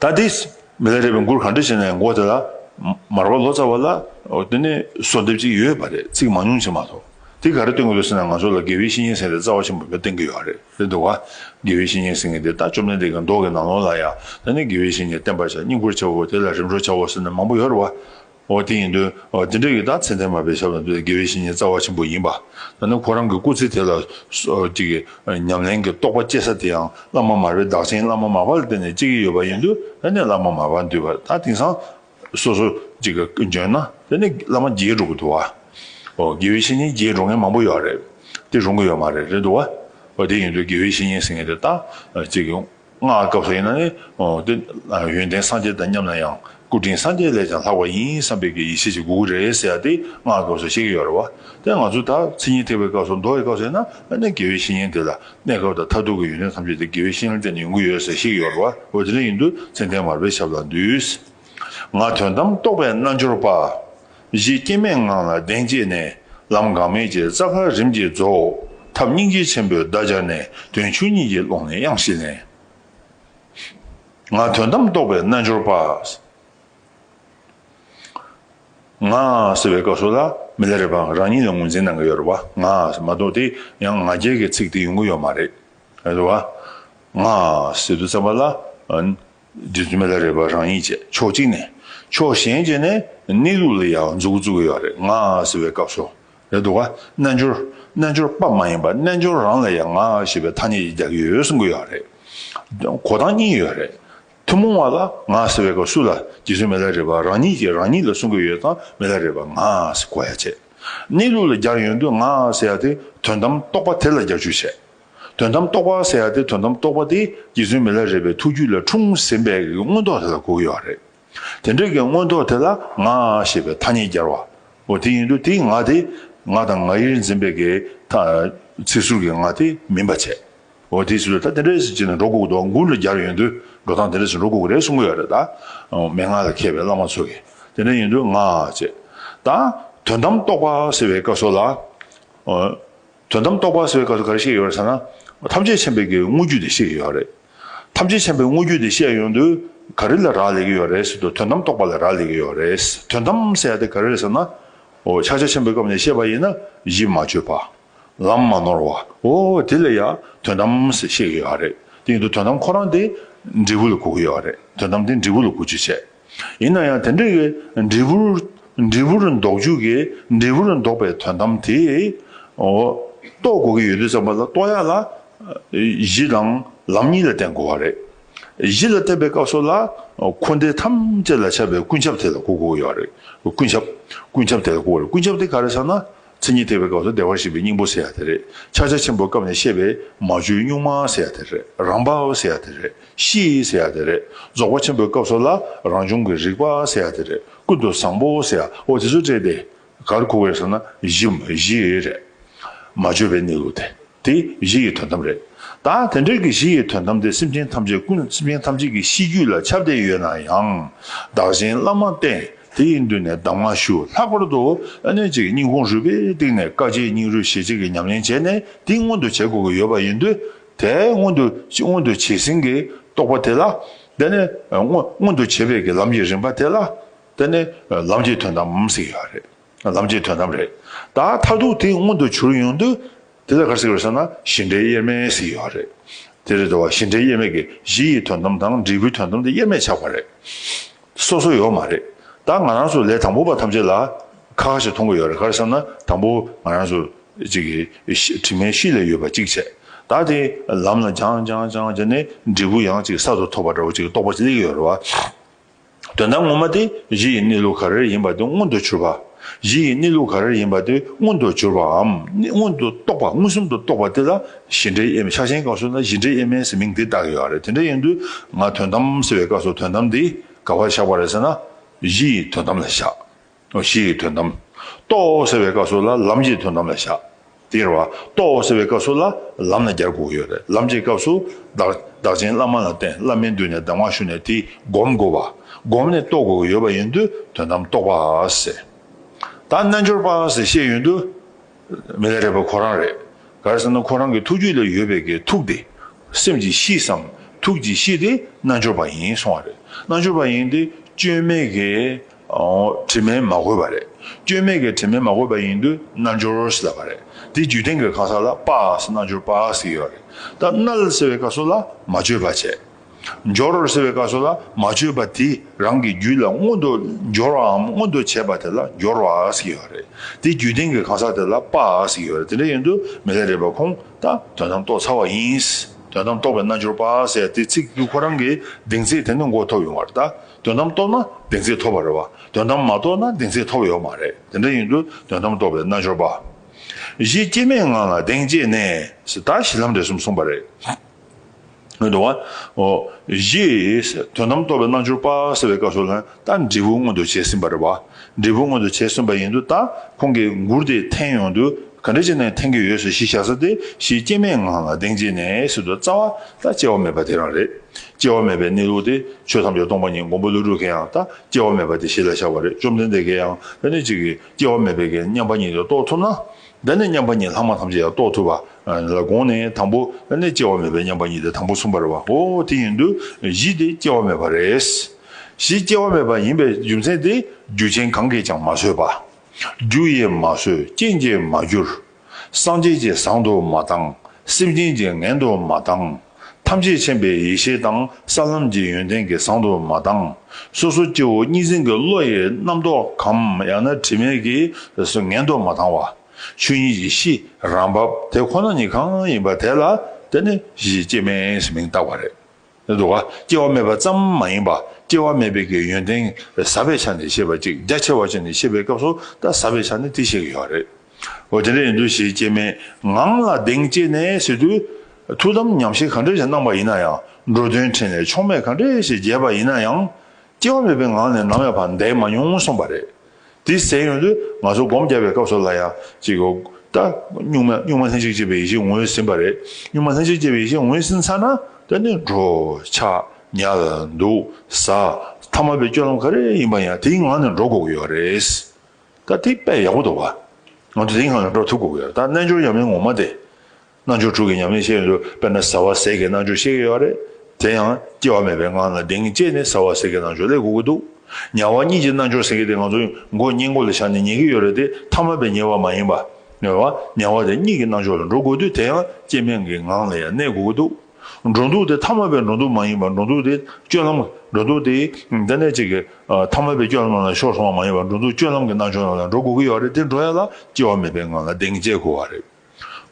ད་དེ་མི་ལ་རས་པའི་མགུར་གང་འདྲ་བྱས་ནས་མགོ་དེ་ལ་མར་བ་ལོ་ཙཱ་བ་ལ་དེ་ནས་གསོལ་འདེབས་ཅིག་ཡོད་པ་རེད་ཚིག་མང་ཉུང་བྱས་མ་གཏོགས་དེ་ག་རེ་སྟོན་གི་འདུག་ཟེར་ན་ང་ཚོ་ལ་དགེ་བའི་བཤེས་གཉེན་ཟེར་ནས་རྩ་བ་ཆེན་པོ་འབའ་བསྟན་གི་ཡོད་རེད་རེད་འདུག་ག་དགེ་བའི་བཤེས་གཉེན་ཟེར་མཁན་དེ་ལྟ་བཅོམ་ལྡན་འདས་ཀྱི་མདོག་གི་ནང་ལོགས་ལ་ཡང་ད་ནས་དགེ་བའི་བཤེས་གཉེན་བསྟན་པར་བྱ་སྙིང་པོར་བྱའོ་དེ་ལ་རིམ་གྲོ་བྱའོ་ཟེར་ནས་མང་པོ་ཡོད་རེད་བ། འོ་དེ་ཡིན་དུས་དེ་འདྲ་ཡོད་ད་ཚེ་འདས་མ་པའི་ཞབས་ལ་འདུད་དགེ་བའི་བཤེས་གཉེན་རྩ་བ་ཆེན་པོ་ཡིན་པ་ད་ནི་ཁོ་རང་གི་སྐུ་ཚེ་དེ་ལ་ཉམས་ལེན་གྱི་རྟོགས་པ་སྐྱེ་ས་དེ་ཡང་བླ་མ་མར་པའི་བདག་ཆེན་བླ་མ་མར་པ་ལ་བརྟེན་ནས་སྐྱེ་གི་ཡོད་པ་ཡིན་དུས་ད་ནི་བླ་མ་མར་པ་འདུས་པ་ད་དེང་སང་སོ་སོ་འཇོན་ན་ད་ནི་བླ་མ་རྒྱས་འགྲོ་གི་འདུག་བ་དགེ་བའི་བཤེས་གཉེན་རྒྱས་འགྲོ་མཁན་མང་པོ་ཡོད་རེད་དེ་རུང་གི་ཡོད་མ་རེད་རེད་འདུག་བ་འོ་དེ་ཡིན་དུས་དགེ་བའི་བཤེས་གཉེན་ཟེར་མཁན་དེ་ད་སྔགས་སྐབས་སུ་ཡིན་ན་ནི། དེ་ཡོན་ཏན་སངས་རྒྱས་དང་མཉམ་ན་ཡང་སྐུ་དྲིན་སངས་རྒྱས་ལས་ཀྱང་ལྷག་པ་ཡིན་བསམ་པའི་གི་ཡེ་ཤེས་ཀྱི་དགོས་དགོས་རེད་ཟེར་ཡ་དེ་སྔགས་སྐབས་སུ་བཤད་ཀྱི་ཡོད་རེད་བ། དེ་ང་ཚོ་ད་ཚིག་ཉིན་ཐེག་པའི་སྐབས་སུ་མདོ་བའི་སྐབས་སུ་ཡིན་ན་ཨ་ནི་དགེ་བའི་བཤེས་གཉེན་དེ་ལ་གནས་སྐབས་དང་མཐར་ཐུག་གི་ཡོན་ཏན་ཐམས་ཅད་དེ་དགེ་བའི་བཤེས་གཉེན་དེ་ལ་ཡོང་གི་ཡོད་ཟེར་བཤད་ཀྱི་ཡོད་རེད་བ་འོ་དེ་འདྲ་ཡིན་དུས་ཙན་དན་མར་པའི་ཞབས་ལ་འདུས། ང་དོན་དམ་རྟོགས་པའི་རྣལ་འབྱོར་པ། གཞི་སྐྱེ་མེད་ངང་ལ་གདེང་བསྐྱེད་ནས། ལམ་འགག་མེད་ཀྱི་རྩ་བར་རིམ་གྱིས་རྫོགས། ཐབས་སྙིང་རྗེ་ཆེན་པོས་བརྡ་སྦྱར་ནས། དོན་ཆུང་གཉིས་ཀྱི་ཀློང་ནས་དབྱངས་བཞི་ལེན། ང། དོན་དམ་རྟོགས་པའི་རྣལ་འབྱོར་པ། ང། ཟེར་བའི་སྐབས་སུ་ལ་མི་ལ་རེ་བ་རང་ཉིད་ལ་ངོས་འཛིན་གནང་གི་ཡོད་རེད་བ། ང། མ་གཏོགས་དེ་ཡང་ང་རྒྱལ་གྱི་ཚིག་དེ་ཡོང་གི་ཡོད་མ་རེད། རེད་བ། ང། ཟེར་དུས་ཙམ་པ་ལ། རྗེ་བཙུན་མི་ལ་རས་པ་རང་ཉིད་བཅས་ཕྱོགས་གཅིག་ནས་ཕྱོགས་གཞན་བཅས་ནས་གནས་ལུགས་ལ་ཡ་བ་འཛུགས་བརྩི་གི་ཡོད་རེད་ང་ཟེར་བའི་སྐབས་སོགས་རེད་འདུག་རྣལ་འབྱོར་རྣལ་འབྱོར་པ་མ་ཡིན་པ་རྣལ་འབྱོར་རང་ལ་ཡ་ང་ཞེས་པའི་ཐ་སྙད་ཀྱི་རྒྱ་ཁྱི་ཡོད་གསུང་གི་ཡོད་རེད། གོ་སྟངས་གཉིས་ཡོད་རེད། ཐུན་མོང་བ་ལ་ང་ཟེར་བའི་སྐབས་སུ་ལ་རྗེ་བཙུན་མི་ལ་རས་པ་རང་ཉིད་ཀྱིས་རང་ཉིད་ལ་གསུང་གི་ཡོད་དང་མི་ལ་རས་པ་ང་ཟེར་གོ་ཡ་བྱས། གནས་ལུགས་ལ་རྒྱ་ཡོད་དུས་ང་ཟེར་ཡ་དེ་དོན་དམ་རྟོགས་པ་དེ་ལ་རྒྱ་ཆུ་བྱས། དོན་དམ་རྟོགས་པ་ཟེར་ཡ་དེ་དོན་དམ་རྟོགས་པ་དེ་རྗེ་བཙུན་མི་ལ་རས་པའི་ཐུགས་རྒྱུད་ལ་འཁྲུངས་ཟིན་པའི་གི་མངོན་རྟོགས་དེ་ལ་གོ་གི་ཡོད་རེད། དེ་འདྲ་གི་མངོན་རྟོགས་དེ་ལ་ང་ཞེས་པའི་ཐ་སྙད་རྒྱར་བ། འོ་དེ་ཡིན་དུས་དེའི་ང་དེ་ང་དང་ང་ཡིར་འཛིན་པའི་གི་ཚིག་ཟུར་གི་ང་དེ་མིན་པ་བྱས། འོ་དེའི་ཚུལ་ད་དེ་འདྲའི་ཟིན་བྱེད་ནི་འགྲོ་འགུགས་འདོགས་འགུགས་ལ་རྒྱར་ཡོད་དུས་འགྲོ་སྟངས་དེ་འདྲ་ཞིག་འགྲོ་འགུགས་རེད་གསུང་གི་ཡོད་རེད་ད། མན་ངག་ལ་མཁས་པའི་བླ་མ་ཚོ་གི་དེ་འདྲ་ཡིན་དུས་ང་ཅེས། ད་དོན་དམ་རྟོགས་པ་ཟེར་བའི་ཀ་སོགས་ལ། དོན་དམ་རྟོགས་པ་ཟེར་བའི་སྐབས་སུ་ག་རེ་བཤད་ཡོད་རེད་ཟེར་ན། ཐམས་ཅད་མཁྱེན་པའི་དགེ་བའི་དངོས་བརྒྱུད་དེ་བཤད་ཡོད་རེད། ཐམས་ཅད་མཁྱེན་པའི་དངོས་བརྒྱུད་དེ་བཤད་ཡོང་དུས་ག་རེ་ལ་རག་ལས་ཀྱི་ཡོད་རེད་ཟེར་དུས་དོན་དམ་རྟོགས་པ་ལ་རག་ལས་ཀྱི་ཡོད་རེད། དོན་དམ་ཟེར་ཡ་དེ་ག་རེ་རེད་ཟེར་ན། འོ་ཕྱག་རྒྱ་ཆེན་པོའི་སྐབས་ནས་བཤད་པ་ཡིན་ན་གཞི་མ་བཅོས་པ། ལམ་མ་ནོར་བ། འོ་དེ་ལ་ཡ་དོན་དམ་ཟེར་བཤད་ཀྱི་ཡོད་རེད། དེ་ཡིན་དུས་དོན་དམ་ཁོ་རང་དེ་འབྲས་བུ་ལ་གོ་གི་ཡོད་རེད། དོན་དམ་དེ་འབྲས་བུ་ལ་གོ་རྒྱུ་བྱེད། ཡིན་ན་ཡང་དེ་འདྲ་ཡི་འབྲས་བུར། འབྲས་བུར་འདོགས་འཇུག་གི་འབྲས་བུར་འདོགས་པའི་དོན་དམ་དེ། རྟོགས་དགོས་ཀྱི་ཡོད་དུས་བསམ་པ་ལ་རྟོགས་ཡ་ལ། གཞི་དང་ལམ་གཉིས་ལ་བརྟེན་དགོས་བ་རེད། གཞི་ལ་བརྟེན་པའི་སྐབས་སོགས་ལ། འཁོར་འདས་ཐམས་ཅད་ལ་ཁྱབ་པའི་ཀུན་ཁྱབ་དེ་ལ་གོ་དགོས་ཀྱི་ཡོད་རེད། ཀུན་ཁྱབ། ཀུན་ཁྱབ་དེ་ལ་གོ་དགོས་རེད། ཀུན་ཁྱབ་དེ་ག་རེ་ཟེར་ན། མཚན་ཉིད་ཐེག་པའི་སྐབས་སུ་བདེ་བར་གཤེགས་པའི་སྙིང་པོ་ཟེར་ཡ་དེ་རེད། ཕྱག་རྒྱ་ཆེན་པོའི་སྐབས་ནས་བཤད་པའི་མ་བཅོས་གཉུག་མ་ཟེར་ཡ་དེ་རེད། རང་བབས་ཟེར་ཡ་དེ་རེད། གཤིས་ཟེར་ཡ་དེ་རེད། རྫོགས་པ་ཆེན་པོའི་སྐབས་སུ་ལ་རང་བྱུང་གི་རིག་པ་ཟེར་ཡ་དེ་རེད། ཀུན་ཏུ་བཟང་པོ་ཟེར་ཡ་ཨོ་དེ་ཚོ་བཀྲལ་ཏེ། གར་ཁུག་བས་ཟེར་ན་བཞི། བཞི་རེད། མ་བཅོས་པའི་གནས་ལུགས་དེ། དེ་གཞི་ཡི་དོན་དམ་རེད། ད་དེ་འདྲ་གི་གཞི་ཡི་དོན་དམ་དེ་སེམས་ཅན་ཐམས་ཅད་ཀུན་སེམས་ཅན་ཐམས་ཅད་ཀྱི་གཤིས་རྒྱུད་ལ་ཁྱབ་བསྡད་ཡོད་ན་ཡང། བདག་གཞན་བླ་མར་བསྟེན་དེ་ཡི་མདུན་ནས་གདམས་ངག་ཞུ་ལྷག་པར་དུ་ཨ་ནུས་ཀྱི་སྙིང་ཁུངས་རུས་པའི་གཏིང་ནས་དཀའ་སྤྱད་སྙིང་རུས་ཞེ་གཅིག་གིས་ཉམས་ལེན་བྱས་ནས་དེ་མངོན་དུ་བྱེད་དགོས་ཀྱི་ཡོད་པ་ཡིན་དུས། དེ་མངོན་དུ་མངོན་དུ་བྱས་ཟིན་གྱི་རྟོགས་པ་དེ་ལ། དེ་ནས་མངོན་དུ་བྱེད་པའི་གྱི་ལམ་གྱི་རིམ་པ་དེ་ལ། དེ་ནི་ལམ་གྱི་དོན་དམ་ཟེར་ཡོད་རེད། ལམ་གྱི་དོན་དམ་རེད། ད་མཐར་ཐུག་དེ་མངོན་དུ་གྱུར་ཡོང་དུས། དེ་ལ་གར་གཟིགས་པར་བྱ་ན་གཞི་འབྲས་དབྱེར་མེད་ཟིག་ཡོད་རེད། དེ་རེད་དོ། གཞི་འབྲས་དབྱེར་མེད་ཀྱི་གཞི་ཡི་དོན་དམ་དང་འབྲས་བུའི་དོན་དམ་དེ་དབྱེར་མེད་ཆགས་པ་རེད། སོ་སོ་ཡོད་མ་རེད། ད་ང་རང་ཚོ་ལས་དང་པོ་པ་ཐམས་ཅད་ལ་ཁ་ཁ་ཞིག་མཐོང་གི་ཡོད་རེད་ག་རེ་བསམ་ན་དང་པོ་ང་རང་ཚོ་གཅིག་གིས་དྲི་མའི་གཤིས་ལས་ཡོད་པ་གཅིག་བྱས། ད་དེ་ལམ་ལ་སྦྱངས་སྦྱངས་སྦྱངས་སྦྱངས་ནས་འབྲས་བུ་ཡང་གཅིག་གསར་དུ་ཐོབ་པ་འདྲ་བོ་གཅིག་རྟོགས་པ་གཅིག་སླེབས་ཀྱི་ཡོད་རེད་བ། དོན་དམ་ངོ་མ་དེ་གཞི་ཡི་གནས་ལུགས་ག་རེར་ཡིན་པ་དེ་མངོན་དུ་གྱུར་པ། གཞི་ཡི་གནས་ལུགས་ག་རེར་ཡིན་པ་དེ་མངོན་དུ་གྱུར་པའམ་མངོན་དུ་རྟོགས་པ་མངོན་སུམ་དུ་རྟོགས་པ་དེ་ལ་གཞི་འབྲས་དབྱེ་མེད་ཆགས་ཞེན་གང་བྱུང་ན་གཞི་འབྲས་དབྱེ་མེད་ཟེར་མིང་དེ་བཏགས་ཡོད་རེད་དེ་འདྲ་ཡིན་དུས་ང་དོན་དམ་ཟེར་བའི་སྐབས་སུ་དོན་དམ་དེ་ག་བར་བཞག་པ་རེད་ཟེར་ན། གཞི་ཡི་དོན་དམ་ལ་བཞག་གཞི་ཡི་དོན་དམ། རྟོགས་ཟེར་བའི་བཀའ་སྲོལ་ལ་ལམ་གྱི་དོན་དམ་ལ་བཞག། དེར་བ། རྟོགས་ཟེར་བའི་བཀའ་སྲོལ་ལ་ལམ་ལ་རྒྱར་འགོག་ཡོད་རེད་ལམ་གྱི་སྐབས་སུ། བདག་བྱིན་བླ་མ་ལ་བརྟེན་བླ་མའི་མདུན་ནས་གདམས་ངག་ཞུ་ནས་དེ་བསྒོམ་དགོས་པ། བསྒོམས་ནས་རྟོགས་དགོས་ཡོད་པ་ཡིན་དུས་དོན་དམ་རྟོགས་པ་ཟེར། ད་རྣལ་འབྱོར་པ་ཟེར་བཤད་ཡོད་དུས། མི་ལ་རས་པ་ཁོ་རང་རེད། གར་ཟེར་ན་ཁོ་རང་གི་ཐུགས་རྒྱུད་ལ་ཡོད་པའི་གི་ཐུགས་དེ། སེམས་ཀྱི་གཤིས་སམ་ཐུགས་ཀྱི་གཤིས་དེ་རྣལ་འབྱོར་པ་ཡིན་སོང་བ་རེད་རྣལ་འབྱོར་པ་ཡིན་དུས་སྐྱོན་མེད་གི། དྲི་མས་མ་གོས་པ་རེད། སྐྱོན་མེད་ཀྱི་དྲི་མས་མ་གོས་པ་ཡིན་དུས་རྣལ་འབྱོར་ཞེས་བཏགས་པ་རེད། དེའི་རྒྱུད་སྟེང་གི་གང་ཟག་ལ་པཱ་ཟེར་རྣལ་འབྱོར་པཱ་ཟེར་ཡོད་རེད། ད་རྣལ་ཟེར་བའི་ཀ་སོགས་ལ་མ་བཅོས་པ་བྱས། འབྱོར་ཟེར་བའི་ཀ་སོགས་ལ་མ་བཅོས་པ་དེ་རང་གི་རྒྱུད་ལ་མངོན་དུ་འབྱོར་བའམ་མངོན་དུ་བྱས་པ་དེ་ལ་འབྱོར་བ་ཟེར་ཡོད་རེད། དེའི་རྒྱུད་སྟེང་གི་གང་ཟག་དེ་ལ་པཱ་ཟེར་ཡོད་རེད་དེ་འདྲ་ཡིན་དུས་མི་ལ་རེ་བ་ཁུངས་ད་དོན་དམ་རྟོགས་ཚར་བ་ཡིན། དོན་དམ་རྟོགས་པའི་རྣལ་འབྱོར་པཱ་ཟེར་དེའི་ཚིག་རྒྱུད་ཁོ་རང་གི་གདེང་ཚད་དེ་ནི་མགོ་ཐོག་ཡོང་བར་གདའ། དོན་དམ་རྟོགས་ན་བདེན་ཚིག་ཐོབ་པ་རེད་བ། དོན་དམ་མ་རྟོགས་ན་བདེན་ཚིག་ཐོབ་ཡོད་མ་རེད། དེ་འདྲ་ཡིན་དུས་དོན་དམ་རྟོགས་པའི་རྣལ་འབྱོར་པ། གཞི་སྐྱེ་མེད་ངང་ལ་གདེང་བསྐྱེད་ནས། ད་གཞི་ལམ་འབྲས་གསུམ་གསུངས་པ་རེད། འོན་ཏུ། གཞི། དོན་དམ་རྟོགས་པའི་རྣལ་འབྱོར་པ་ཟེར་བའི་སྐབས་སུ། ད་འབྲས་བུ་མངོན་དུ་བྱས་ཟིན་པ་རེད་བ། འབྲས་བུ་མངོན་དུ་བྱས་གསུངས་པ་ཡིན་འདུག་ད་ཁོང་གིས་མགུར་དེ་འཐེན་ཡོང་དུས་ག་འདྲ་ཅིག་ནས་འཐེན་གྱི་ཡོད་ཟེར་ཞིག་བཞག་ས་དེ་ཞིག་སྐྱེ་མེད་ངང་ལ་གདེང་བྱས་ནས་ཟེར་དུས་རྩ་བ་ད་སྐྱེ་བ་མེད་པ་དེ་རང་རེད། སྐྱེ་བ་མེད་པའི་གནས་ལུགས་དེ་ཆོས་ཐམས་ཅད་སྟོང་པ་ཉིད་མགོན་པོ་ཀླུ་སྒྲུབ་མཁན་ཡང་ད་སྐྱེ་བ་མེད་པ་དེ་གཞི་ལ་བཞག་པ་རེད་བཅོམ་ལྡན་འདས་མཁན་ཡང་ད་ནི་ཅིག་གིས་སྐྱེ་བ་མེད་པའི་གན་མཉམ་པ་ཉིད་དེ་རྟོགས་ཐུབ་ན། ད་ནི་མཉམ་པ་ཉིད་ལྷག་མ་ཐམས་ཅད་ཡང་རྟོགས་ཐུབ་པ་ལ་དགོངས་ནས་དང་པོ་ནས་སྐྱེ་བ་མེད་པའི་མཉམ་པ་ཉིད་དེ་དང་པོ་གསུངས་པར་བ་ཧོ་དེ་ཡིན་དུས་བཞི་དེ་སྐྱེ་བ་མེད་པ་རེད། གཞི་སྐྱེ་བ་མེད་པ་ཡིན་པའི་རྒྱུ་མཚན་ཏེ་རྒྱུ་ཅན་གང་གིས་ཀྱང་མ་བཟོས་པ། རྒྱུ་ཡིས་མ་བཟོས་རྐྱེན་གྱིས་མ་བསྒྱུར། སངས་རྒྱས་ཀྱིས་བཟང་དུ་མ་བཏང། སེམས་ཅན་གྱིས་ངན་དུ་མ་བཏང། ཐམས་ཅད་མཁྱེན་པའི་ཡེ་ཤེས་དང་ས་ལམ་གྱི་ཡོན་ཏན་གྱིས་བཟང་དུ་མ་བཏང། སོ་སོ་སྐྱེ་བོ་གཉིས་འཛིན་གྱི་བློ་ཡིས་རྣམ་རྟོག་གམ་ཡང་ན་དྲི་མས་ཀྱིས་ངན་དུ་མ་བཏང་བ། ཆོས་ཉིད་ཀྱི་གཤིས་རང་བབས་དེ་ཁོ་ན་ཉིད་གང་ཡིན་པ་དེ་ལ་དེ་ནི་གཞི་སྐྱེ་མེད་ཞེས་མིང་བཏགས་པ་རེད། འདུག་ག་སྐྱེ་བ་མེད་པ་ཙམ་མ་ཡིན་པ་སྐྱེ་བ་མེད་པའི་ཡོན་ཏན་ཟབ་པའི་ཆ་ནས་ཤེས་པ་ཅིག་རྒྱ་ཆེ་བ་ཅན་ནས་ཤེས་པའི་སྐབས་སུ་ད་ཟབ་པའི་ཆ་ནས་དེ་ཤེས་ཀྱི་ཡོད་རེད། འོ་དེ་འདྲ་ཡིན་དུས་ཞེས་སྐྱེ་མེད་ངང་ལ་གདེང་བསྐྱེད་ནས་ཟེར་དུས། ཐུགས་དམ་ཉམས་བཞེས་ག་འདྲ་ཞིག་གནང་པ་ཡིན་ན་ཡང་འགྲོ་དོན་ཕྲིན་ལས་ཕྱོགས་མེད་ག་འདྲ་ཞིག་རྒྱས་པ་ཡིན་ན་ཡང། སྐྱེ་བ་མེད་པའི་ངང་ནས་ནམ་ཡང་བར་འདས་མ་མྱོང་གསུངས་པ་རེད། དེ་ཟེར་ཡོང་དུས་ང་ཚོ་སྒོམ་རྒྱབ་པའི་སྐབས་སུ་ལ་ཡང་ཅིག་ད་གཉུག་མ་གཉུག་མ་ལྷན་ཅིག་སྐྱེས་པའི་ཡེ་ཤེས་ངོས་ཟིན་པ་རེད་གཉུག་མ་ལྷན་ཅིག་སྐྱེས་པའི་ཡེ་ཤེས་ངོས་ཟིན་ཚར་ན་ད་ནི་འགྲོ་འཆག་ཉལ་འདུག་ཟ་ཐ་མ་པའི་སྐྱོ་ལམ་ག་རེ་ཡིན་པ་ཡང་དེའི་ངང་ནས་འགྲོ་དགོས་ཀྱི་ཡོད་རེད། ད་དེ་དཔེ་ཡག་པོ་འདུག་བ། ང་ཚོ་དེའི་ངང་ནས་འགྲོ་ཐུབ་དགོས་ཀྱི་རེད་ད་རྣལ་འབྱོར་ཡབ་མེས་ངོ་མ་དེ། རྣལ་འབྱོར་དྲུག་གི་ཉམས་ལེན་བཤད་ཡོད་འདུག་དཔེར་ན་ཟ་བ་ཟས་ཀྱི་རྣལ་འབྱོར་ཤེས་ཀྱི་ཡོད་རེད། དེ་ཡང་སྐྱེ་བ་མེད་པའི་ངང་ལ་གདེང་བཅས་ནས་ཟ་བ་ཟས་ཀྱི་རྣལ་འབྱོར་ལས་སྒུག་གི་འདུག་ཉལ་བ་གཉིས་ཀྱི་རྣལ་འབྱོར་ཟེར་གྱི་དེ་ང་ཚོ་མགོ་བསྙེན་བཀུར་ལ་བཞག་ནས་ཉལ་གྱི་ཡོད་རེད་དེ་ཐ་མལ་པའི་ཉལ་བ་མ་ཡིན་པ། ཉལ་བ་ཉལ་བ་དེ་གཉིས་ཀྱི་རྣལ་འབྱོར་ལ་འགྲོ་དགོས་དུས་དེ་ཡང་སྐྱེ་མེད་ཀྱི་ངང་ལ་ཡང་གནས་སྒུག་གི་འདུག་འགྲོ་འདུག་དེ་ཐ་མལ་པའི་འགྲོ་འདུག་མ་ཡིན་པ་འགྲོ་འདུག་དེ་སྤྱོད་ལམ་འགྲོ་འདུག་དེ་འདི་ནས་ཅིག་ཐ་མལ་པའི་སྐྱོ་ལམ་རྣམས་ལ་ཤོར་སོང་བ་མ་ཡིན་པ་འགྲོ་འདུག་སྤྱོད་ལམ་གྱི་རྣལ་འབྱོར་རྣམས་ལ་འགྲོ་དགོས་ཀྱི་ཡོད་རེད་དེ་འགྲོ་ཡ་ལ་སྐྱེ་བ་མེད་པའི་ངང་ལ་གདེང་བཅས་དགོས་བ་རེད།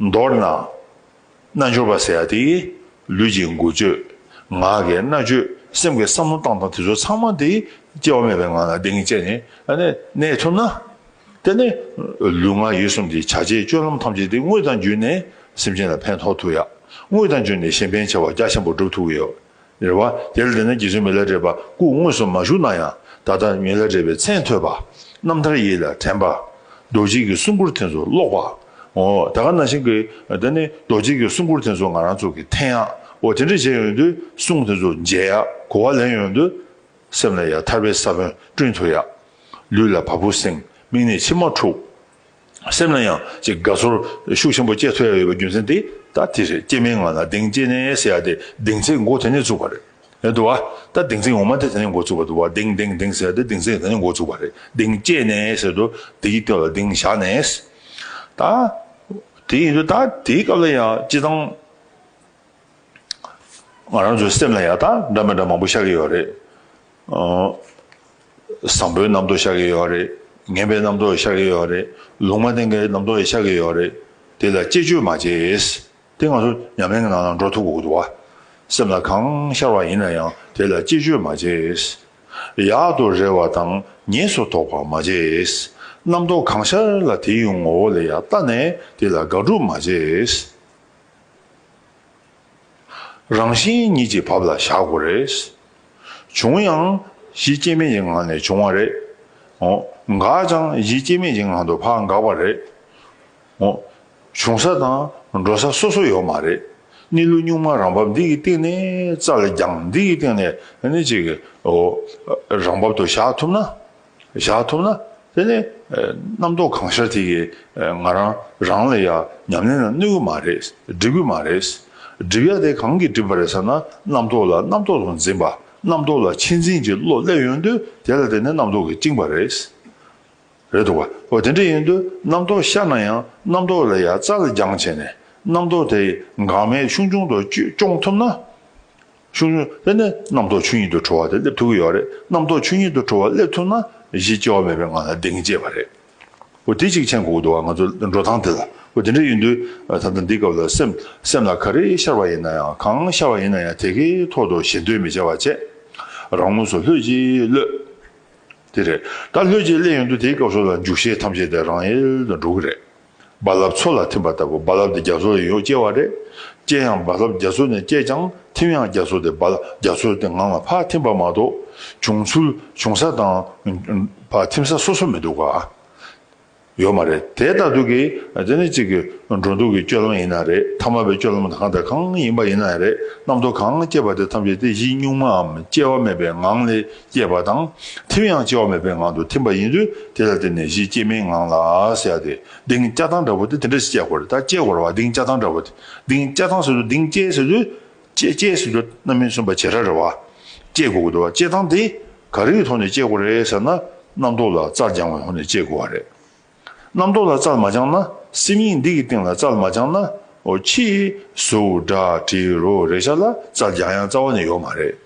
མདོར་ན། རྣལ་འབྱོར་པ་ཟེར་བ་དེ། ལུས་ཀྱི་མགུ་བཅོས། ངག་གི་རྣ་བཅོས། སེམས་ཀྱི་བསམ་བློ་བཏང་སྟངས་དེ་ཚོ་ཚང་མ་དེ། སྐྱེ་བ་མེད་པའི་ངང་ལ་བདེན་གཉིས་བཅས་ནས་གནས་ཐུབ་ན། དེ་ནས། ལུས་ངག་ཡིད་གསུམ་གྱི་བྱ་བྱེད་སྤྱོད་ལམ་ཐམས་ཅད་དེ་དངོས་དང་བརྒྱུད་ནས་སེམས་ཅན་ལ་ཕན་ཐོགས་ཐུབ་ཡ། དངོས་དང་བརྒྱུད་ནས་གཞན་ཕན་བྱ་བ་རྒྱ་ཆེན་པོ་སྒྲུབ་ཐུབ་ཀྱི་ཡོད། རེ་བ། དེར་བརྟེན་ན་རྗེ་བཙུན་མི་ལ་བྲེས་པ་སྐུ་དངོས་སུ་མ་བཞུགས་ན་ཡང་ད་ལྟ་མི་ལ་བྲེས་པའི་མཚན་ཐོས་པ། རྣམ་ཐར་ཡིད་ལ་དྲན་པ། རྡོ་རྗེ་གི་གསུང་མགུར་དེ་ཚོ་ཀློག་པ། འོ་ད་ག་ན་བཞིན་གི་ད་ནི་རྡོ་རྗེ་གི་གསུང་མགུར་དེ་ཚོ་ང་རང་ཚོ་གི་འཐེན་ཡག་གོ་དེ་འདྲ་བྱས་ཡོང་དུས་གསུང་དེ་ཚོ་མཇལ་ཡག་གོ་བ་ལེན་ཡོང་དུས། སེམས་ལ་ཡང་ཐར་པའི་ས་བོན་བསྐྲུན་ཐུབ་ཡག། ལུས་ལ་བ་སྤུ་གསེང་དམིགས་ནས་མཆི་མ་འཁྲུགས། སེམས་ལ་ཡང་ཅིག་དགའ་ཚོར་ཤུགས་ཆེན་པོ་སྐྱེས་ཐུབ་ཡ་ཡོད་པའི་རྒྱུ་མཚན་དེ་ད་དེ་རེད་སྐྱེས་མའི་ངང་ལ་གདེང་སྐྱེས་ནས་ཟེར་ཡ་དེ་གདེང་ཚད་མགོ་དེ་ནས་བཙུགས་པ་རེད་འདུག་བ། ད་གདེང་ཚད་ངོ་མ་དེ་དེ་ནས་མགོ་བཙུགས་པ་འདུག་བ་གདེང་གདེང་གདེང་ཟེར་ཡ་དེ་གདེང་ཚད་དེ་ནས་མགོ་བཙུགས་པ་རེད་གདེང་སྐྱེས་ནས་ཟེར་དུ་དེ་ཡི་སྟོད་ལ་གདེང་བཞག་ནས། ད་དེ་ཡིན་དུ་ད་དེའི་སྐབས་ལ་ཡང་སྤྱི་བཏང། ང་རང་ཚོའི་སེམས་ལ་ཡག་དག་འདྲ་མི་འདྲ་མང་པོ་ཤར་གྱི་ཡོད་རེད། བཟང་པོའི་རྣམ་རྟོག་ཤར་གྱི་ཡོད་རེད། ངན་པའི་རྣམ་རྟོག་ཤར་གྱི་ཡོད་རེད། ལུང་མ་བསྟན་གྱི་རྣམ་རྟོག་ཤར་གྱི་ཡོད་རེད། དེ་ལ་བཅས་བཅོས་མ་བྱས། དེ་ང་ཚོ་ཉམས་ལེན་གྱི་ནང་ན་འགྲོ་ཐུབ་དགོས་འདུག་བ། སེམས་ལ་གང་ཤར་བ་ཡིན་ན་ཡང་དེ་ལ་བཅས་བཅོས་མ་བྱས། ཡག་ཏུ་རེ་བ་དང་ཉེས་སུ་དོགས་པ་མ་བྱས། རྣམ་རྟོག་གང་ཤར་ལ་དེའི་ངོ་བོ་ལ་ཡག་བལྟ་ནས་དེ་ལ་དགག་སྒྲུབ་མ་བྱས། རང་བཞིན་ཉིད་ཀྱི་བབ་ལ་བཞག་དགོས་རེད། བྱུང་ཡང་གཞི་སྐྱེ་མེད་ཀྱི་ངང་ནས་བྱུང་བ་རེད། འགག་ཀྱང་གཞི་སྐྱེ་མེད་ཀྱི་ངང་དུ་ཕ་འགག་པ་རེད། བྱུང་ས་དང་འགྲོ་ས་སོ་སོ་ཡོད་མ་རེད། གནས་ལུགས་གཉུག་མ་རང་བབ་འདི་ཡི་སྟེང་ནས་རྩ་ལ་རྒྱང་འདི་ཡི་སྟེང་ནས་ནི་ཅིག་རང་བབ་ཏུ་བཞག་ཐུབ་ན། བཞག་ཐུབ་ན་དེ་ནི་རྣམ་རྟོག་གང་ཤར་དེ་གིས་ང་རང་རང་ལ་ཡང་ཉམས་ལེན་ལ་གནོད་གི་མ་རེད་སྒྲིབ་གི་མ་རེད། སྒྲིབ་ཡ་དེ་གང་གིས་བསྒྲིབས་པ་རེད་ཟེར་ན་རྣམ་རྟོག་ལ་རྣམ་རྟོག་དང་འཛིན་པ་རྣམ་རྟོག་ལ་ཕྱི་འཛིན་གྱི་བློ་སླེབས་ཡོང་དུས་དེ་ལ་དེ་ནི་རྣམ་རྟོག་གིས་བཅིངས་པ་རེད། རེད་འདུག་ག་འོ་དེ་འདྲ་ཡིན་དུས་རྣམ་རྟོག་ཤར་ན་ཡང་རྣམ་རྟོག་ལ་ཡ་རྩ་ལ་རྒྱང་བྱས་ནས་རྣམ་རྟོག་དེ་འགག་མེད་ཆུང་ཆུང་དུ་སྐྱོང་ཐུབ་ན། ཆུང་ཆུང་དེ་ནི་རྣམ་རྟོག་ཆོས་ཉིད་དུ་གྲོལ་བ་དེ་སླེབས་ཐུབ་ཀྱི་ཡོད་རེད། རྣམ་རྟོག་ཆོས་ཉིད་དུ་གྲོལ་བ་སླེབས་ཐུབ་ན་གཞི་སྐྱེ་བ་མེད་པའི་ངང་ལ་བདེ་སྐྱིད་བར་རེད། འོ་དེ་གཅིག་མཆན་གོ་གི་འདུག་ང་ཚོ་འགྲོ་སྟངས་དེ་ལ་འོ་དེ་འདྲ་ཡིན་དུས་ད་ལྟ་འདི་སྐབས་ལ་སེམས་སེམས་ལ་ག་རེ་ཤར་བ་ཡིན་ན་ཡང་གང་ཤར་བ་ཡིན་ན་ཡང་དེ་གའི་ཐོག་ཏུ་ཞེ་འདོད་མི་བྱ་བར་ཆད་རང་ངོས་སུ་ལྷོད་ཀྱིས་གློད། དེ་རེད། ད་ལྷོད་ཀྱིས་གླད་ཡོང་དུས་དེའི་སྐབས་སུ་ལ་འཇུག་ཤེས་ཐམས་ཅད་དེ་རང་ཡལ་དུ་འགྲོ་གི་རེད། རྦ་རླབས་མཚོ་ལ་ཐིམ་པ་ལྟ་བུ་རྦ་རླབས་དེ་རྒྱ་མཚོ་ཡང་ཡོད་སྐྱེ་བ་རེད། སྐྱེ་ཡང་རྦ་རླབས་རྒྱ་མཚོ་ནས་སྐྱེས་ཀྱང་ཐིམ་ཡང་རྒྱ་མཚོ་དེ་རྦ་རླབས་རྒྱ་མཚོའི་སྟེང་ངང་ལ་ཕར་ཐིམ་པ་མ་གཏོགས། བྱུང་ཚུལ་བྱུང་ས་དང། ཕར་ཐིམ་ས་སོ་སོ་མི་འདུག་ག། ཡོད་མ་རེད་དེ་ལྟ་འདུག་གི། དེ་ནི་གཅིག་གི་འགྲོ་འདུག་གི་སྤྱོད་ལམ་ཡིན་ན་རེད་ཐ་མ་པའི་སྤྱོད་ལམ་གང་དང་གང་ཡིན་པ་ཡིན་ན་རེད་རྣམ་རྟོག་གང་སྐྱེས་པ་དེ་ཐམས་ཅད་དེ་བཞིན་གཉུག་མའམ་སྐྱེ་བ་མེད་པའི་ངང་ལས་སྐྱེས་པ་དང། ཐིམ་ཡང་སྐྱེ་བ་མེད་པའི་ངང་དུ་ཐིམ་པ་ཡིན་དུས་དེ་ལ་བརྟེན་ནས་གཞི་སྐྱེ་མེད་ངང་ལ་བསལ་ཏེ་གདིང་སྐྱ་ཐང་འདྲ་བོ་དེ་དེ་འདྲ་ཞིག་སྐྱེ་དགོས་རེད་ད་སྐྱེ་དགོས་ར་བ་གདིང་སྐྱ་ཐང་འདྲ་བོ་དེ་གདིང་སྐྱ་ཐང་ཟེར་དུས་གདིང་སྐྱེ་ཟེར་དུས། སྐྱེ་སྐྱེ་ཟེར་དུས་རྣམ་སྨིན་སུན་པ་བྱེད་ར་རེད་བ། སྐྱེ་དགོས་དགོས་རེད་བ་སྐྱེ་ཐང་དེ་ག་རེའི་ཐོག་ནས་སྐྱེ་དགོས་རེད་ཟེར་ན་རྣམ་རྟོག་ལ་རྩར་སྦྱང་བའི་ཐོག་ནས་སྐྱེ་དགོས་བ་རེད། རྣམ་རྟོག་ལ་རྩལ་མ་སྦྱངས་ན། སེམས་ཡིག་འདི་གི་སྟེང་ལ་རྩལ་མ་སྦྱངས་ན། ཕྱིས་སུ་སྒྲ་དྲིལ་རོ་རེ་བྱ་ལ་རྩལ་སྦྱང་ཡང་རྩ་བ་ནས་ཡོད་མ་རེད།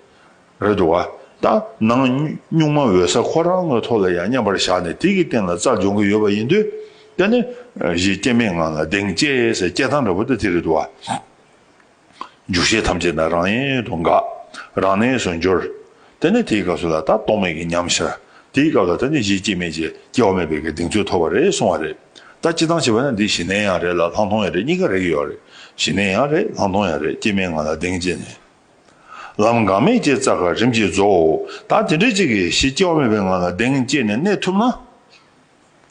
རེད་འདུག་བ། ད་ནངས་སྨྱུག་མ་འོད་ས་ཁོ་རང་ངོས་ཐོག་ལ་ཡང་མཉམ་པར་བཞག་ནས་དེ་གི་སྟེང་ལ་རྩལ་སྦྱོང་གི་ཡོད་པ་ཡིན་དུས། དེ་ནི་གཞི་སྐྱེ་མེད་ངང་ལ་གདེང་བཅས་སའི་སྐྱེ་སྟངས་འདྲ་བོ་དེ་དེ་རེད་འདུག་བ། འཇུག་བྱེད་ཐམས་ཅད་དང་རང་ཡན་དུ་འགག། རང་གནས་སུ་འགྱུར། དེ་ནས་དེའི་སྐབས་སུ་ལ་དྭགས་རྟོག་མེད་ཀྱི་ཉམས་ཤར། དེའི་སྐབས་ལ་དྭགས་འདི་བཞི་སྐྱེ་མེད་ཅེས་སྐྱེ་བ་མེད་པའི་གདེང་ཚོད་ཐོབ་པ་རེད་གསུང་བ་རེད། ད་སྤྱི་བཏང་བྱས་པ་ན་འདི་ཞི་གནས་ཡང་རེད་ལ་ལྷག་མཐོང་ཡང་རེད་གཉིས་ཀ་རེག་ཡོད་རེད། ཞི་གནས་ཡང་རེད་ལྷག་མཐོང་ཡང་རེད་སྐྱེ་མེད་ངང་ལ་གདེང་བཅས་ནས། ལམ་འགག་མེད་སྐྱེ་རྩ་ག་རིམ་གྱིས་རྫོགས། ད་དེ་འདྲའི་གཅིག་གིས་གཞི་སྐྱེ་བ་མེད་པའི་ངང་ལ་གདེང་བཅས་ནས་གནས་ཐུབ་ན།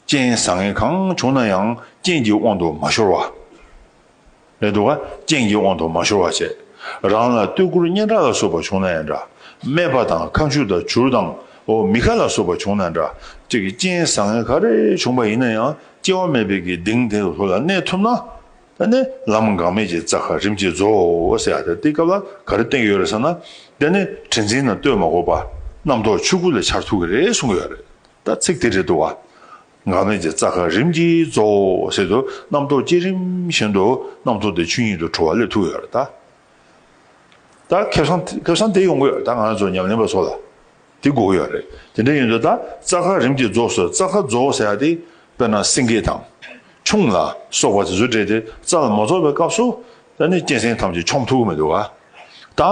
རྐྱེན་བཟང་ངན་གང་བྱུང་ན་ཡང་རྐྱེན་གྱི་དབང་དུ་མ་ཤོར་བ། རེད་འདུག་ག་རྐྱེན་གྱི་དབང་དུ་མ་ཤོར་བ་བྱས། རང་ལ་སྟོད་སྐུར་སྙན་གྲགས་ལ་སོགས་པ་བྱུང་ན་ཡང་འདྲ། སྨད་པ་དང་ཁ་མཆུ་དང་བྱུར་དང་འོ་མི་ཁ་ལ་སོགས་པ་བྱུང་ན་འདྲ། ཅེས་ཀྱི་རྐྱེན་བཟང་ངན་ག་རེ་བྱུང་པ་ཡིན་ན་ཡང་སྐྱེ་བ་མེད་པའི་གི་གདིང་དེ་ལྷོད་ལ་གནས་ཐུབ་ན། དེ་ནས་ལམ་འགག་མེད་ཀྱི་རྩ་ཁ་རིམ་གྱིས་རྫོགས་ཟེར་ཡ་དེ་དེ་སྐབས་ལ་ག་རེ་བསྟན་གྱི་ཡོད་རེད་ཟེར་ན། དེ་ནི་དྲི་འཛིན་ན་ལྟོས་མ་དགོས་པར་རྣམ་རྟོག་ཆོས་སྐུ་ལས་འཆར་ཐུབ་ཀྱི་རེད་གསུང་གི་ཡོད་རེད། ད་ཚིག་དེ་རེད་འདུག་བ། འགག་མེད་ཀྱི་རྩ་ཁ་རིམ་གྱིས་རྫོགས་བཞིན་དུ་རྣམ་རྟོག་བསྐྱེད་རིམ་བཞིན་དུ་རྣམ་རྟོག་དེ་ཆོས་ཉིད་དུ་གྲོལ་བ་ལས་ཐུག་ཡོད་རེད་ད། ད་ཁེབས་སང་དེ་ཡོང་གི་ཡོད་རེད་ད་ང་ཚོ་ཉམས་ལེན་པ་ཚོ་ལ་དེ་དགོས་ཀྱི་ཡོད་རེད་དེ་འདྲ་ཡིན་དུས་ད་རྩ་ཁ་རིམ་གྱིས་རྫོགས་སོ་རྩ་ཁ་རྫོགས་ཟེར་བ་དེ་དཔེར་ན་སེང་གེ་དང། ཁྱུང་ལ་སོགས་པ་དེ་ཚོ་བསྒྲལ་ཏེ་རྩ་ལ་མ་རྫོགས་པའི་སྐབས་སུ། ད་ནི་གཅན་གཟན་ཐམས་ཅད་ཆོམ་ཐུག་གི་མི་འདུག་བ། ད་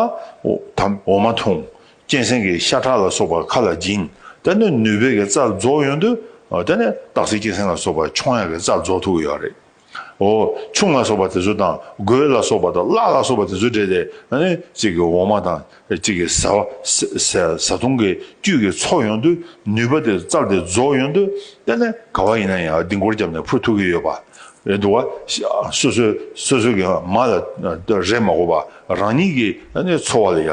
འོ་མ་འཐུང། གཅན་གཟན་གྱི་ཤ་ཁྲག་ལ་སོགས་པ་ཁ་ལ་སྦྱིན། དེ་ནི་ནུས་པས་ཀྱི་རྩ་རྫོགས་ཡོན་ཏུ། དེ་ནས་སྟག་གཟིག་གཅན་གཟན་ལ་སོགས་པ་མཆོང་ཡང་གྱི་རྩ་རྫོགས་ཐུགས་ཡོད་རེག། ཧོ། ཆུང་ལ་སོགས་པ་དེ་ཚོ་དང་རྒོད་ལ་སོགས་པ་དང་གླག་ལ་སོགས་པ་དེ་ཚོ་འདྲེས་ཏེ། གཅིག་གི་འོ་མ་དང། གཅིག་གི་ཟ་བ། ཟ་འཐུང་གི་བཅུད་ཀྱི་ཚོགས་ཡོན་ཏུ། ནུས་པ་དེ་རྩ་དེ་རྫོགས་ཡོན་ཏུ། དེ་ནས་ག་བ་ཡིན་ན་ཡང་ལྡིང་སྐོར་བརྒྱབ་ནས་ཕུ་ཐུགས་ཀྱི་ཡོད་པ། འདུག་བ། སོ་སོའི་སོ་སོའི་གྱི་མ་ལ་རེས་མ་གོ་བར་རང་ཉིད་ཀྱི་འཚོ་བ་ལ་ཡ།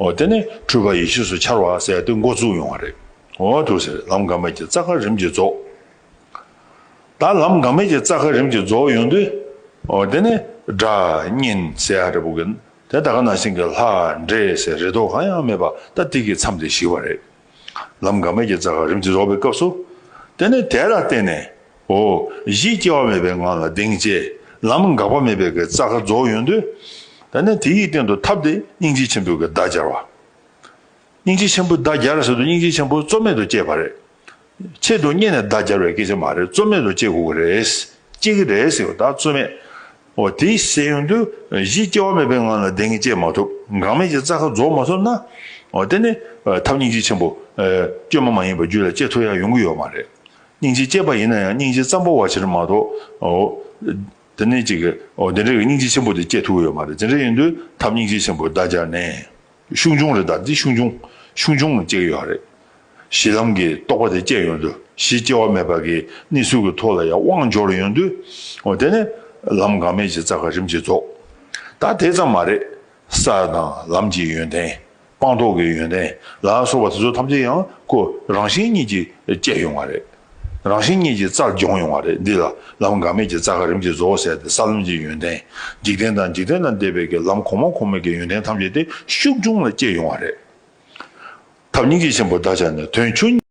འོ་དེ་ནས་འཁྲུལ་པ་ཡེ་ཤེས་སུ་འཆར་བ་ཟད་དེ་མགོ་བཙུགས་ཡོང་བ་རེད། འོ་དུ་ཟེར་ལམ་འགག་མེད་ཀྱི་རྩ་ཁ་རིམ་གྱིས་རྫོགས། ད་ལམ་འགག་མེད་ཀྱི་རྩ་ཁ་རིམ་གྱིས་རྫོགས་ཡོང་དུས། འོ་དེ་ནས་སྒྲ་བརྙན་ཟེར་ཧ་རེ་བོ་གི། དེ་ད་ག་ན་ཟིན་གི་ལྷ་འདྲེ་ཟེར་རེ་དོགས་གང་ཡང་མེད་པ་ད་ཏིག་གི་མཚམས་དེ་ཞིག་བ་རེད། ལམ་འགག་མེད་ཀྱི་རྩ་ཁ་རིམ་གྱིས་རྫོགས་པའི་སྐབས་སུ། དེ་ནས་དེ་ལ་བརྟེན་ནས། འོ། གཞི་སྐྱེ་བ་མེད་པའི་ངང་ལ་གདེང་བཅས་ལམ་འགག་པ་མེད་པའི་གི་རྩ་ཁ་རྫོགས་ཡོད་འདོད། ད་ནས་དེ་ཡི་སྟེང་དུ་ཐབས་ཏེ་སྙིང་རྗེ་ཆེན་པོའི་གི་བརྡ་སྦྱར་བ། སྙིང་རྗེ་ཆེན་པོའི་བརྡ་སྦྱར་ཟེར་དུ་སྙིང་རྗེ་ཆེན་པོ་གཙོ་མེད་དུ་སྐྱེས་པ་རེད། ཆེད་དུ་རྙེད་ནས་བརྡ་སྦྱར་བའི་སྐད་ཆ་མ་རེད་གཙོ་མེད་དུ་སྐྱེ་དགོས་གི་རེད། སྐྱེ་གི་རེད་ཟེར་བ་ད་གཙོ་མེད། འོ་དེ་བཤད་ཡོང་དུས་གཞི་སྐྱེ་བ་མེད་པའི་ངང་ལ་བདེན་གཉིས་སྐྱེད་མ་ཐུབ་འགག་མེད་ཀྱི་རྩ་ཁ་རྫོགས་མ་ཐུབ་ན། འོ་དེ་ནི་ཐབས་སྙིང་རྗེ་ཆེན་པོ། བཅོས་མ་མ་ཡིན་པ་རྒྱུད་ལ་སྐྱེ་ཐུབ་ཡ་ཡོང་གི་ཡོད་མ་རེད། སྙིང་རྗེ་སྐྱེས་པ་ཡིན་ན་ཡང་སྙིང་རྗེ་ཙམ་པོ་བ་ཕྱིར་མ་གཏོགས། འོ་དེ་ནི་གཅིག་གིས་འོ་དེ་འདྲའི་སྙིང་རྗེ་ཆེན་པོ་དེ་སྐྱེད་ཐུབ་ཀྱི་ཡོད་མ་རེད་དེ་འདྲ་ཡིན་དུས་ཐབས་སྙིང་རྗེ་ཆེན་པོ་བརྡ་སྦྱར་ནས། ཤུགས་འབྱུང་རེད་དཱ་འདི་ཤུགས་འབྱུང། ཤུགས་འབྱུང་ཅིག་ཡོད་རེད། གཞི་ལམ་གྱི་རྟོགས་པ་དེ་སྐྱེ་ཡོང་དུས་གཞི་སྐྱེ་བ་མེད་པ་གི་གནས་ཚུལ་གྱི་ཐོག་ལ་ཡང་དབང་འབྱོར་ཡོང་དུས། དེ་ནི་ལམ་འགག་མེད་ཀྱི་རྩ་ཁ་རིམ་གྱིས་རྫོགས། ད་དེ་ཙམ་མ་རེད། ས་དང་ལམ་གྱི་ཡོན་ཏན། སྤངས་རྟོགས་ཀྱི་ཡོན་ཏན་ལ་སོགས་པ་དེ་ཚོ་ཐམས་ཅད་ཡང་ཁོ་རང་གཞན་གཉིས་ཀྱིས་སྐྱེ་ཡོང་བ་རེད། རང་བཞིན་གཉིས་ཀྱི་རྩར་སྦྱོང་ཡོང་བ་རེད། འདི་ལ་ལམ་འགག་མེད་ཀྱི་རྩ་ག་རིམ་གྱི་བཟོ་བོ་ཟེར་ཏེ་ས་ལམ་གྱི་ཡོན་ཏན། འཇིག་རྟེན་དང་འཇིག་རྟེན་ལ་འདས་པའི་གི་ལམ་གོང་མ་གོང་མའི་གི་ཡོན་ཏན་ཐམས་ཅད་དེ་ཤུགས་འབྱུང་ལ་སྐྱེ་ཡོང་བ་རེད། ཐབས་སྙིང་རྗེ་ཆེན་པོ་བདག་ཅག་ནི་དོན་ཆུང།